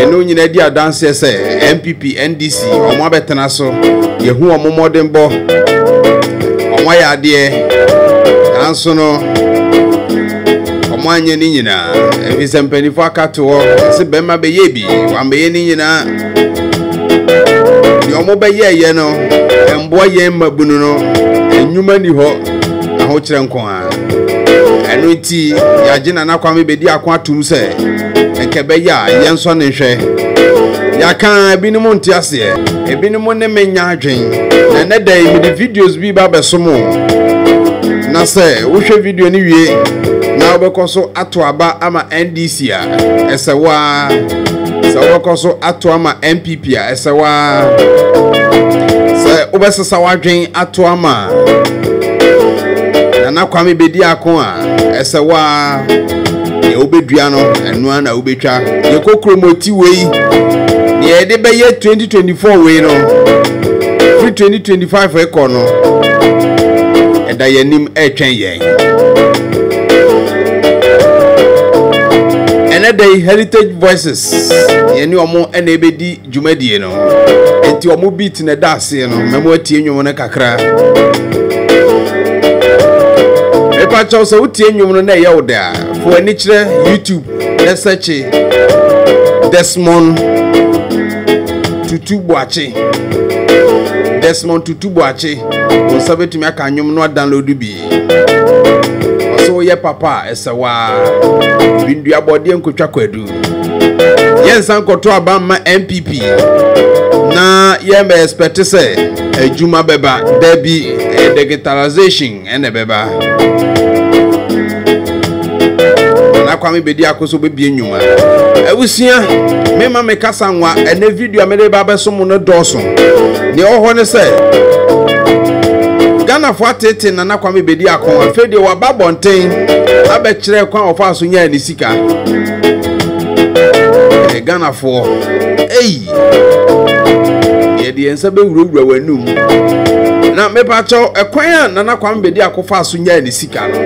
ɛno nyinaa di adanseɛ sɛ npp ndc wɔn abɛtena so yɛhu wɔn mmɔdenbɔ wɔn ayɛ adeɛ nanso no wɔn anyɛ ne nyinaa ɛfi sɛ mpanimfoɔ aka to hɔ ɛsɛ bɛrima bɛyɛ bi wɔambɛyɛ ne nyinaa deɛ wɔn bɛyɛɛyɛ no mmoa yɛn mmabunu no nnwuma ni hɔ ahokyerɛ nko ara ɛno nti yɛagye nana kwame bɛdi ako atom sɛ ɛkɛ bɛyɛ a yɛnsɔ ne nhwɛ yɛaka ebinom nte aseɛ ebinom ne menya adwen na ɛnɛ da yi mede videos bi ba bɛso mu na sɛ wohwɛ video no wie na wobɛkɔ so ato aba ama ndc a ɛsɛ wo a sɛ wobɛkɔ so ato ama mpp bi a ɛsɛ waa sɛ wobɛsesa w'adwen ato ama nana kwame bɛdi ako a ɛsɛ waa deɛ wobɛdua no ɛno a na wobɛtwa yɛkɔ kuromɔti wei deɛ yɛde bɛyɛ 2024 wei no firi 2025 rekɔ no ɛda yɛn anim ɛretwɛn yɛn ɛnɛ da yi heritage voices yɛne wɔn na ɛbɛdi dwumadie no nti wɔn beat na ɛda aseɛ no mɛmo atie nnwom no kakra mepa kyɛw sɛ wotie nnwom no na ɛyɛ wo dɛ a fo ani kyerɛ youtube na sɛkye desmond tutu boakye desmond tutu boakye wo nsa bɛtumi aka nnwom no adownload bi ɔsɛ woyɛ papa a ɛsɛ waa bindua bɔdeɛ nkotwa kwadu yɛnsan kɔto aba mma npp na yɛma expect sɛ adwuma bɛba dabi eh, digitalization ɛna ɛbɛba na kwame bɛdi ako so bɛbie nnwuma abusua mema me kasa nwa ɛnɛ video a mede ba bɛso mu no dɔɔso deɛ ɔwɔ hɔ ne sɛ ghanafoɔ atete nana kwame bɛdi ako afei deɛ waba abɔnten abɛkyerɛ kwan ɔfa so nyaa ne si sika ɛɛ eh, ghanafoɔ eyi yɛde yɛn nsa bɛwurawura wɔn anum na mepakyɛw ɛkwan a nana kwan bɛdi akɔfa so nyaa ne sika no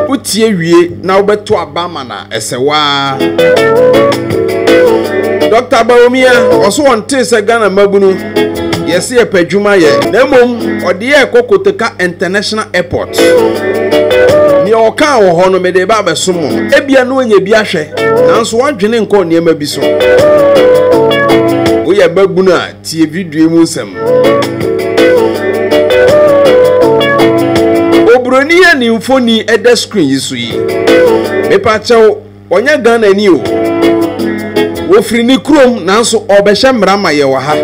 wotie wie na wobɛto aba ma na ɛsɛ waa dɔkta bawomia ɔso wɔn te sɛ ghana mmabunu yɛse yɛpɛ adwuma yɛ na mmom ɔde yɛ ɛkɔ kotoka international airport deɛ ɔkaa wɔ hɔ no mede ba abɛso mu ebia no ɔnyɛ bi ahwɛ nanso wadwene nkɔ nneɛma bi so woyɛ babunu a tie video mu nsɛm oburoni a ne mfoni ɛda screen yi so yi mepa kyɛw Ɔnyɛ Ghanani o. Ɔfiri ne kurom nanso ɔrebɛhyɛ mmara ma yɛn wɔ ha.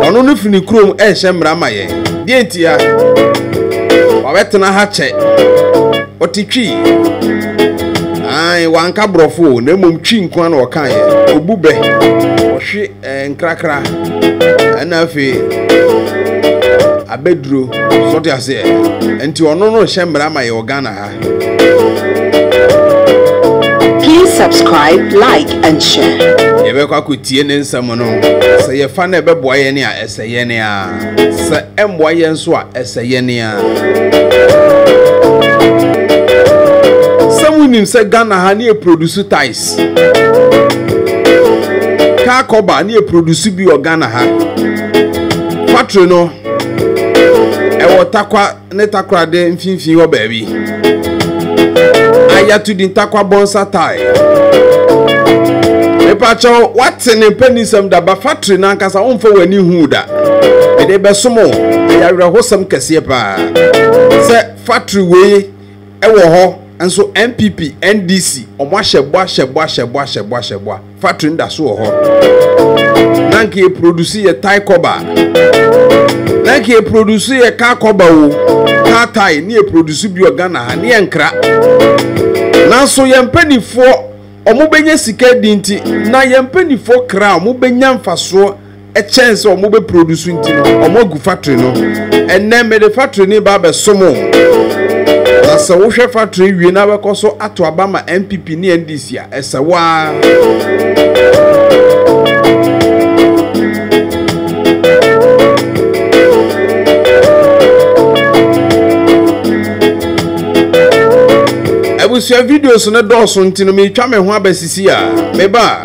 Ɔno no firi ne kurom rehyɛ mmara ma yɛn. Deɛ ntia? Wabɛtena ha kyɛ. Ɔte Twi. Ae, wanka borɔfo o, na mmom Twi nko ara na ɔkaeɛ. Ɔbu bɛ. Ɔhwe Eh, nkrakra ɛna afei abɛduro sɔte aseɛ nti ɔno no hyɛ mmara ma yɛ wɔ ghana ha Please subscribe, like, and share. yɛbɛkɔ akɔtie ne nsɛm no sɛ yɛfa no ɛbɛboa yɛn a ɛsɛ yɛn a sɛ ɛmmoa yɛn nso a ɛsɛ yɛn a sɛ monim sɛ ghana ha ne yɛ produce ties kaa kɔba ne yɛ produce bi wɔ ghana ha factory no ɛwɔ takwa ne takorade mfimfini hɔ baabi ayato din takwa bɔnsa tae mepakyɛw wate ne mpanisɛm da ba factory no ankasa womfa w'ani hu da mede bɛsom o ɛyɛ awerɛhosɛm kɛseɛ paa sɛ factory wei Ɛwɔ hɔ nso NPP, NDC, ɔmo ahyɛ bɔ ahyɛ bɔ ahyɛ bɔ ahyɛ bɔ ahyɛ bɔ a, factory no da so wɔ hɔ. Na nka yɛ produce yɛ Thai kɔba. Na nka yɛ produce yɛ car kɔba o, car Thai ne yɛ produce bi wɔ Ghana ha ne yɛ nkra. Nanso yɛn mpanimfoɔ ɔmo bɛnya sika di nti na yɛn mpanimfoɔ kra a ɔmo bɛnya mfasoɔ ɛkyɛn sɛ wɔn bɛ produce nti no wɔn agu factory no ɛnɛ mɛde factory ne ba abɛsom o na sɛ wohwɛ factory wie na abɛkɔ so ato aba ma npp ne ndc a ɛsɛ waa. abusua videos no dɔɔso nti no meretwa me ho abɛsisi a meba a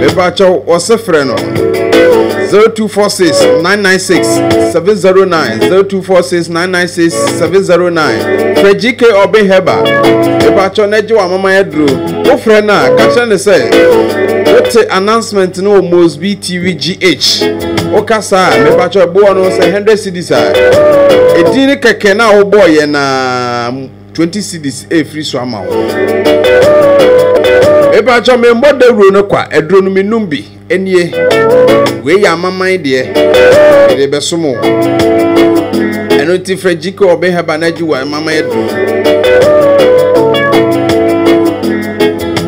mepakyɛw wɔse frɛ no 0246 996 709 0246 996 709 frɛ gk ɔbe hɛba mepakyɛw na agye wɔ amama yɛ duro wofrɛ no a ka kyerɛ ne sɛ wote announcement no wɔ mosb tv gh woka saa a mepakyɛw ɛboɔ no sɛ 100 cities a ɛdin ne kɛkɛ no a wobɔɔ yɛ na twenty cedis efiri so ama wo. Epatsɔ mi mbɔ dawuro no kwa aduro no mi num bi enie wei yɛ amaman deɛ ɛde bɛ som wo ɛno nti frɛ gyike ɔbɛ hɛba na agyi wɔ amaman aduro.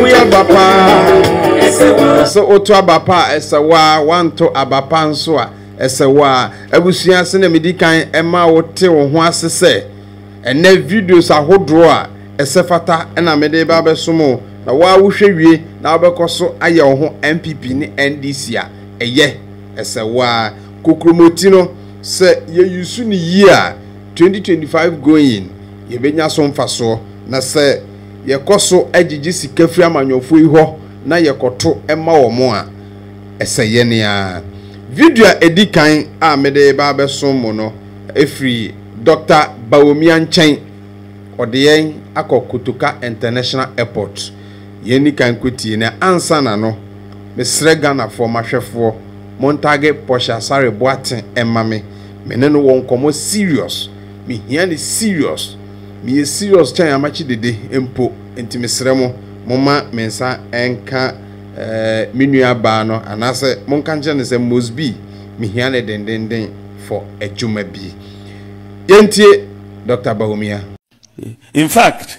woyɛ aba paa sɛ woto aba pa a ɛsɛ wo a woanto aba pa nso a ɛsɛ wo a abusua ase na medi kan ɛma wote wo ho ase sɛ ɛnɛ videos ahodoɔ a ɛsɛ fata na mede ba bɛsom o na woa wohwɛ wie na wobɛkɔ so ayɛ wo ho npp ne ndc a ɛyɛ ɛsɛ wo a kokuromoti no Sɛ yɛ use no yie a, 2025 going yɛbɛnya so mfasoɔ. Na sɛ yɛ kɔ so gyegye sika firi amanyɔfoɔ yi hɔ na yɛ kɔ to ma wɔn a, ɛsɛ yɛn ara. Video a ɛdi kan a me de reba abɛso mo no firi Doctor Bawumia nkyɛn. Ɔde yɛn akɔ Kotoka International Airport. Yɛn ni kan kɔ tie no ansa na no. Me srɛ Ghanafoɔ, m'ahwɛfoɔ, Montagge Portia Asare Boateng mma me, me ne no wɔ nkɔmmɔ serious, me hia no serious, me yɛ serious kyɛn Amakye Dede mpo, nti me srɛ mo, momma me nsa nka eh me nua baa no anaasɛ monka nkyerɛ no sɛ Mosby me hia no dendenden for adwuma bi. Yɛntie Doctor Bawumia. In fact,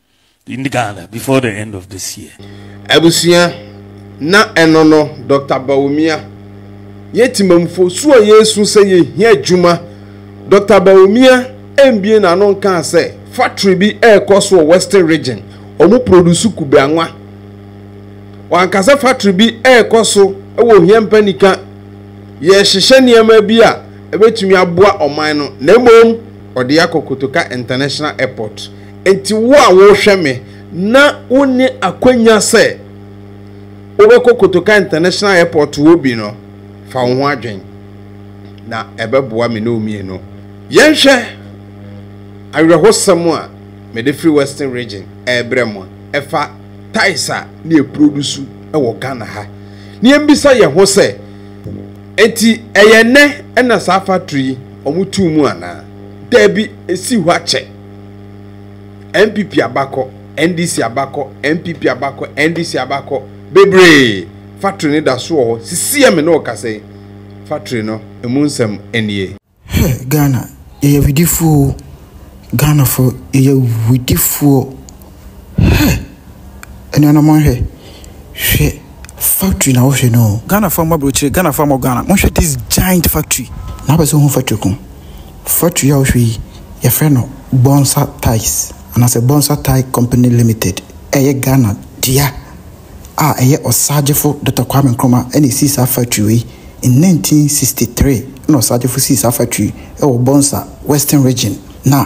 in Ghana before the end of this year. Abusua, na ɛno no Dr. Bawumia. Yɛ timamfo, su a yɛresu sɛ yɛhia adwuma. Dr. Bawumia ɛmbie n'ano nkaa sɛ factory bi ɛrekɔ so wɔ Western Region, wɔn produce kube anwa. Wanka sɛ factory bi ɛrekɔ so wɔ Ohia Mpanika, yɛrehyehyɛ nneɛma bi a ɛbɛtumi aboa ɔman no, na mmom ɔde akɔ Kotoka International Airport. Enti wo a worehwɛ me na wonni akwannya sɛ wobɛkɔ Kotoka International Airport hɔ bi no, fa wo ho adwen. Na ɛbɛboa me ne wo mmienu. Yɛnhwɛ awerɛhosɛm a mede firi Western Region rebrɛ mo a ɛfa ties a na yɛprodusu wɔ Ghana ha. Na yɛmmisa yɛn ho sɛ, enti ɛyɛ nnɛ na saa factory yi wɔtoo mu anaa? Dabi, esii hɔ akyɛ. npp abakɔ ndc abakɔ npp abakɔ ndc abakɔ bebree factory no da so wɔ hɔ sisi a me ne wo kasa yi factory no emu nsɛm nie. Hɛ Ghana yɛyɛ widifoɔ o Ghanafoɔ yɛyɛ widifoɔ. Hey! Anuanom monhwɛ. Hwɛ factory na wohwɛ no. Ghana fa mma brokyire, Ghana fa mmɔ Ghana. Monhwɛ this giant factory. Na wopɛ sɛ wohu factory ko. Factory a wohwɛ yi, yɛfrɛ no Bonsa Ties anaasɛ Bonsa Tie Company Limited. Ɛyɛ Ghana dea a ɛyɛ ɔsaagyefo Dɔkta Kwame Nkrumah na esii saa factory wei. In 1963 na ɔsaagyefo sii saa factory yi wɔ Bonsa, Western Region. Na.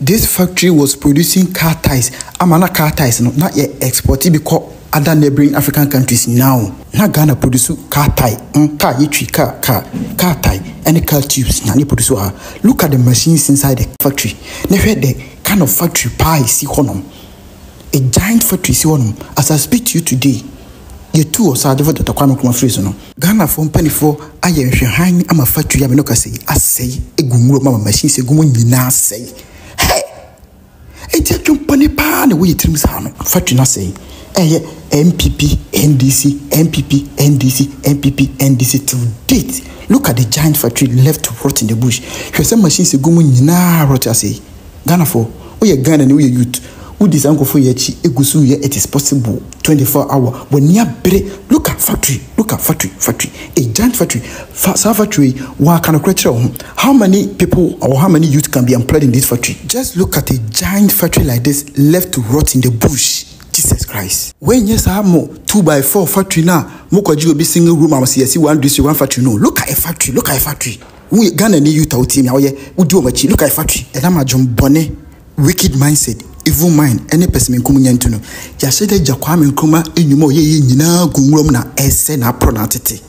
This factory was producing car tyres ama na car tyres no na yɛ export bi kɔ other neighbouring African countries nyinaa o. Na Ghana produce car tyre mm car yɛtwi car car car tyre ɛne car tubes na na yɛ produce wɔ ha. Look at the machines inside the factory na hwɛ the kind of factory paa a ɛsi hɔnom. a giant factory si hɔ nom as I speak to you today yɛtu ɔsaagyefo Doctor Kwame Nkrumah firi so no. Ghanafoɔ mpaninfoɔ ayɛ nhwɛhan ama factory a me no kasa yi asɛe agu nwura mu ama machines agu mu nyinaa asɛe hey enti adwenpɔne paa na ɛwɔ yɛ tirim saa no factory no asɛe ɛyɛ NPP NDC NPP NDC NPP NDC till date look at the giant factory left rot in the bush hwɛ sɛ machines agu mu nyinaa rot asɛe. Ghana foɔ woyɛ Ghanani woyɛ youth wodi saa nkurɔfoɔ yi akyi eguso reyɛ it is possible twenty four hour w'ani abere look at factory look at factory factory a giant factory fa saa factory yi w'aka nokorɛ kyerɛ wo ho how many people or how many youth can be employed in this factory just look at a giant factory like this left to rot in the bush Jesus Christ. Wei nyɛ saa mo two by four factory no a mo kɔgye obi single room a wɔsi yɛsi one district one factory no look at a factory look at a factory. Wo yɛ Ghana ni Utah wotie nea wɔyɛ wodi wɔn akyi look I factory. Ɛnam adwen bɔne, wicked mindset, evil mind, ne pɛsɛmenkom nya nti no, yɛahyɛ da agya Kwame Nkrumah nnwuma a ɔyɛeɛ nyinaa gu nwura mu na ɛresɛe n'aporɔ na atete.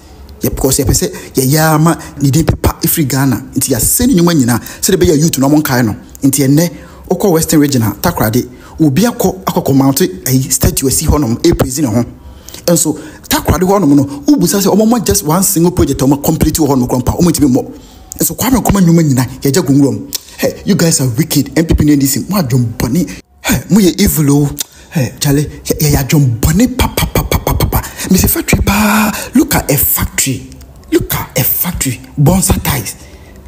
Yɛ because yɛpɛ sɛ yɛyɛ ara ma ne din pepa firi Ghana nti yɛasɛe ne nnwuma nyinaa sɛdeɛ ɛbɛyɛ a youth no wɔnkae no. Nti ɛnnɛ wokɔ Western Region a Takoradi, obi akɔ akɔkɔ mounte ayi statue asi hɔnom ɛrepraise ne ho nso Takoradi hɔ nom no wo bisa sɛ ɔmo mmɔ just one single project a ɔmo complete wɔ hɔ nom koraa mpo a ɔmo ntumi mmɔ nso Kwame Nkrumah nnwuma nyina yɛ gya gu nwura mu hɛ you guys are wicked NPP ne NDC mo adwen bɔne hɛ mo yɛ evil oo hɛ kyale yɛ yɛ adwen bɔne papapapapapa mese factory paa look at a factory look at a factory bonsa ties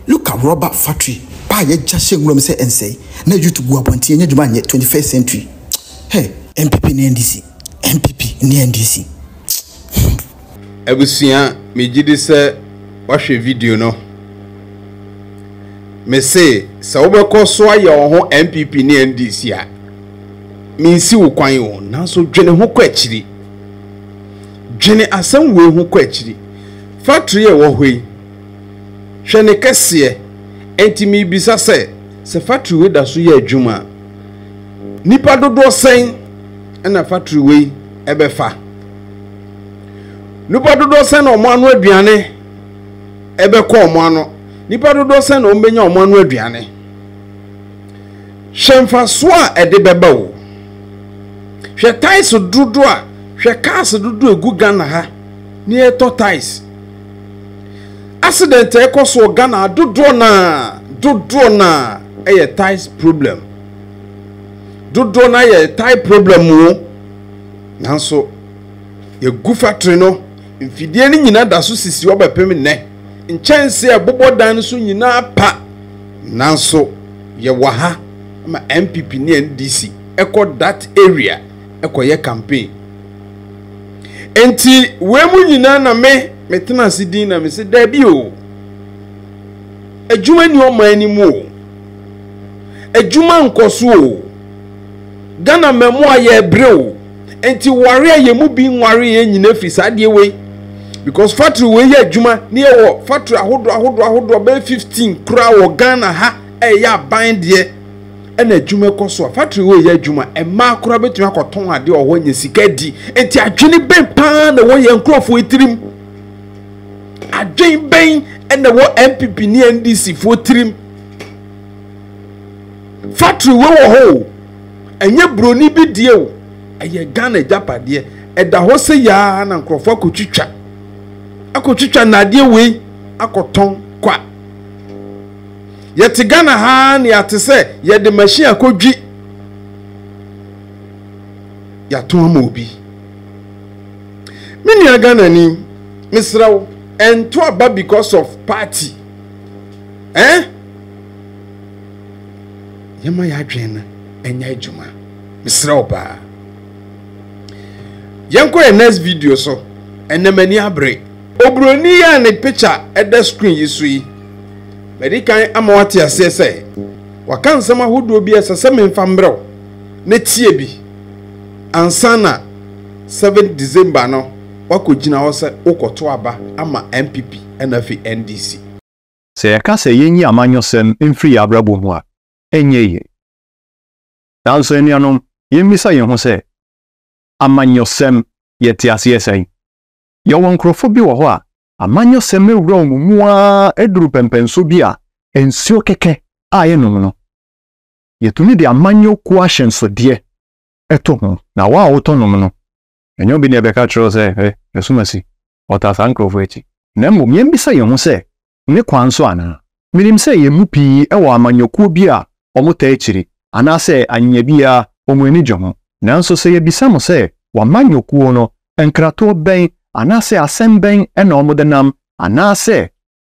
look at rubber factory paa yɛ gya hyɛ nwura mu sɛ ɛnsɛe na youth gu abɔnten yɛ nya adwuma nyɛ 21st century hɛ NPP ne NDC. NPP ne NDC. Abusua megye di sɛ wahwɛ video no. Mese sɛ wobɛkɔ so ayɛ wo ho NPP ne NDC a, mensi wo kwan o, nanso dwene ho kɔ akyiri. Dwene asɛm wei ho kɔ akyiri. Factory a ɛwɔ hɔ yi, hwɛ ne kɛseɛ. Enti mebisa sɛ, sɛ factory wei da so yɛ adwuma a, nipa dodoɔ sɛn na fatori wei bɛfa? Nnipa dodoɔ sɛn na wɔn ano aduane bɛkɔ wɔn ano? Nnipa dodoɔ sɛn na wɔbɛnya wɔn ano aduane? Hwɛ mfasoɔ a ɛde bɛba o. Hwɛ tais dodoɔ a hwɛ cars dodoɔ egu Ghana ha ne yɛtɔ tais. Accident ɛkɔ soɔ Ghana dodoɔ naa dodoɔ naa ɛyɛ tais problem. dodoɔ no ayɛ tae problem o nanso yɛgu factory no mfidie no nyinaa da so sisi hɔ bɛpem nnɛ nkyɛnse a ɛbobɔ dan no so nyinaa pa nanso yɛwɔ ha ma npp ne ndc ɛkɔ that area ɛkɔyɛ campaign nti wei mu nyinaa na me metena ase din na mese daabi o adwuma ni ɔman no mu o adwuma nkɔ so o ghana mmamu a yɛbrɛ o nti ware a yɛn mu bi nware yɛn nyina firi saa deɛ wei because factory wei yɛ adwuma ne yɛwɔ factory ahodoɔ ahodoɔ ahodoɔ bɛyɛ fifteen koraa wɔ ghana ha a ɛyɛ aban deɛ ɛna adwuma kɔ so a factory wei yɛ adwuma mmaa koraa bɛtumi akɔtɔn adeɛ wɔ hɔ anya sika di nti adwene bɛn paa na wɔ yɛn nkurɔfoɔ tirim adwene bɛn na wɔ npp ne ndc foɔ tirim factory wɔ wɔ hɔ o ɛnyɛ buroni bi deɛ o ɛyɛ ghana agyapadeɛ ɛda hɔ sɛ yaa na nkurɔfoɔ akɔtwitwa akɔtwitwa nnadeɛ wei akɔtɔn kwa yɛte ghana ha ne yɛate sɛ yɛde machine akɔdwi yɛato ama obi me nua ghanani mesrɛ wo ɛnto aba because of party Eh? Yɛma yɛn adwene no ɛnyɛ adwuma. Mesrɛ wo paa. Yɛnkɔ yɛn next video so. Ɛnna m'ani abere. Oburoni yi a ne picture ɛda screen yi so yi, madi kan ama wate aseɛ sɛ waka nsɛm ahodoɔ bi a ɛsɛ sɛ memfa mmerɛw na tie bi ansa na 7 December no wakɔgyina hɔ sɛ wokɔto aba ama NPP ɛna afei NDC. Sɛ yɛka sɛ yenyi amanyɔsɛm mfiri yɛn abrabɔ mu a, ɛnyɛ yiye. Nanso anuanom, yemmisa yɛn ho sɛ, 'Amanyɔsɛm, yɛte aseɛ sɛn? Yɛwɔ nkurɔfo bi wɔ hɔ a, amanyɔsɛm awura wɔn mu ara aduru pɛmpɛnsoɔ bi a nsuo kɛkɛ a ɛnnom no. Yɛtumi de amanyɔ kuo ahyɛnsodeɛ to ho, na wo a wotɔ nom no, ɛnyɛ obi na ɛbɛka akyerɛ wo sɛ, Hwɛ, yɛsom asi. ɔtaa saa nkurɔfo akyi. Na mmom yɛmmisa yɛn ho sɛ, 'Ne kwan so anaa? Minim sɛ yɛn mu pii wɔ amanyɔkuo bi a wɔtaa akyiri, anaasɛ anyɛ biara wɔn ani gye ho. Nanso sɛ yɛbisa mo sɛ, 'W'amanyɔkuo no, nkratoɔ bɛn anaasɛ asɛm bɛn na wɔde nam, anaasɛ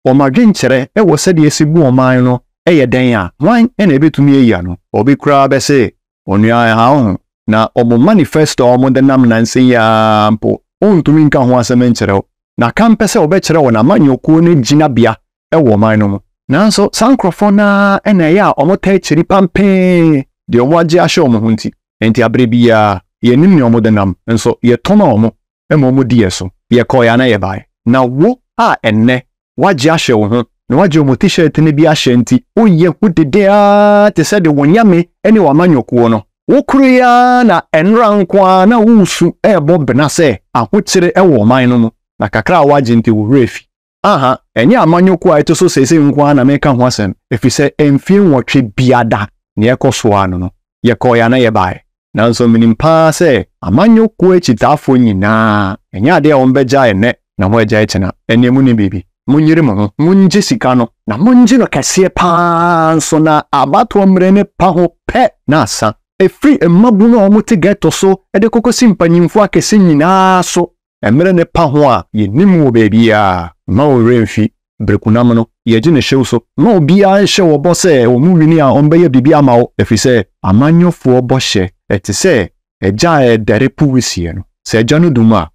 wɔn adwenkyerɛ wɔ sɛdeɛ ɛsi bu ɔman no yɛ dɛn a, hwan na ɛbɛtumi ayi ano? Obi koraa bɛse, Onua, ɛha wo ho, na wɔn manifesto a wɔde nam nnansa yi ara mpo, wontumi nka ho asɛm nkyerɛ wo, na ka mpɛ sɛ wɔbɛkyerɛ wɔn amanyɔkuo no gyinabea wɔ ɔman no mu. Nanso saa nkorɔfoɔ no ara na ɛyɛ a wɔtaa kyiri pampee deɛ wɔagye ahyɛ wɔn ho nti. Enti aberɛ biara, yɛnnim nea wɔde nam, nso yɛtɔ ma wɔn ma wɔdii yɛn so. Yɛkɔeɛ anaa yɛbaeɛ. Na wo a ɛnnɛ woagye ahyɛ wo ho, na woagye wɔn T-shirt no bi ahyɛ nti, woyɛ hu dede ara te sɛ deɛ w'anyame ne w'amanyɔkuo no. Wokoroeɛ ara na nnora nko ara na woresu rebɔ bena sɛ ahokyere wɔ ɔman no mu, na kakra a woagye nti wo werɛ afi. Aha, ɛnyɛ amanyɔkuo a ɛto so seesei nko ara na mereka ho asɛm, ɛfiri sɛ mfeɛ nwɔtwe biada na yɛkɔ soɔ ara no no, yɛkɔeɛ anaa yɛbaeɛ. Nanso menim pa ara sɛ amanyɔkuo akyitaafoɔ nyinaa, ɛnyɛ adeɛ a wɔbɛgyae ɛnnɛ na wɔagyae kyena. Ɛnneɛ monim biribi? Monyere mo ho, mongye sika no, na mongye no kɛseɛ pa ara nso, na abatoɔ mmerɛ no pa ho pɛ na asa. Ɛfiri mmabunu a wɔte gɛto so de kɔkɔsi mpanimfoɔ akɛse nyinaa so, Mmerɛ no pa ho a yɛnnim wɔ baabiara. Mma wo werɛ mfi Berekunam no. Yɛgye no hyew so. Mma obiara nhyɛ wo bɔ sɛ wɔn wini a wɔbɛyɛ biribi ama wo, ɛfiri sɛ amanyɔfoɔ bɔhyɛ te sɛ agya a ɛredɛre po wisie no. Sɛ agya no dum a,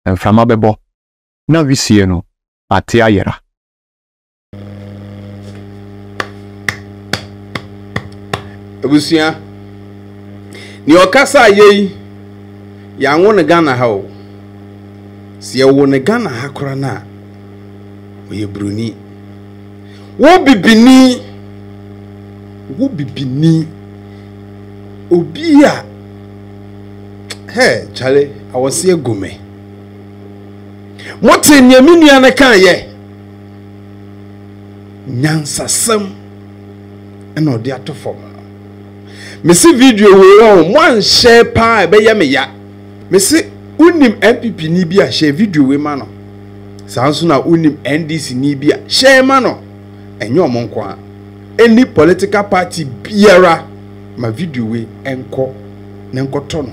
mframa bɛbɔ, na wisie no ate ayera. abusua nea ɔkasa yɛ yi yɛanwo no ghana ha o sɛ yɛwo no ghana ha kora no a ɔyɛ buroni wo bibini wo bibini obi a hɛ kyale awɔseɛ gome mote nea me nua no kaeɛ nyansasɛm na ɔde ato fam no mese video wei ɔ mo anhyɛ paa ɛbɛyɛ me ya mese wonim npp ni bi a hyɛ video wei ma no saa nso na wonim ndc ni bi a hyɛ ma no ɛnyɛ ɔmo nko a ɛni political party biara ma video wei ɛnkɔ na nkɔtɔ no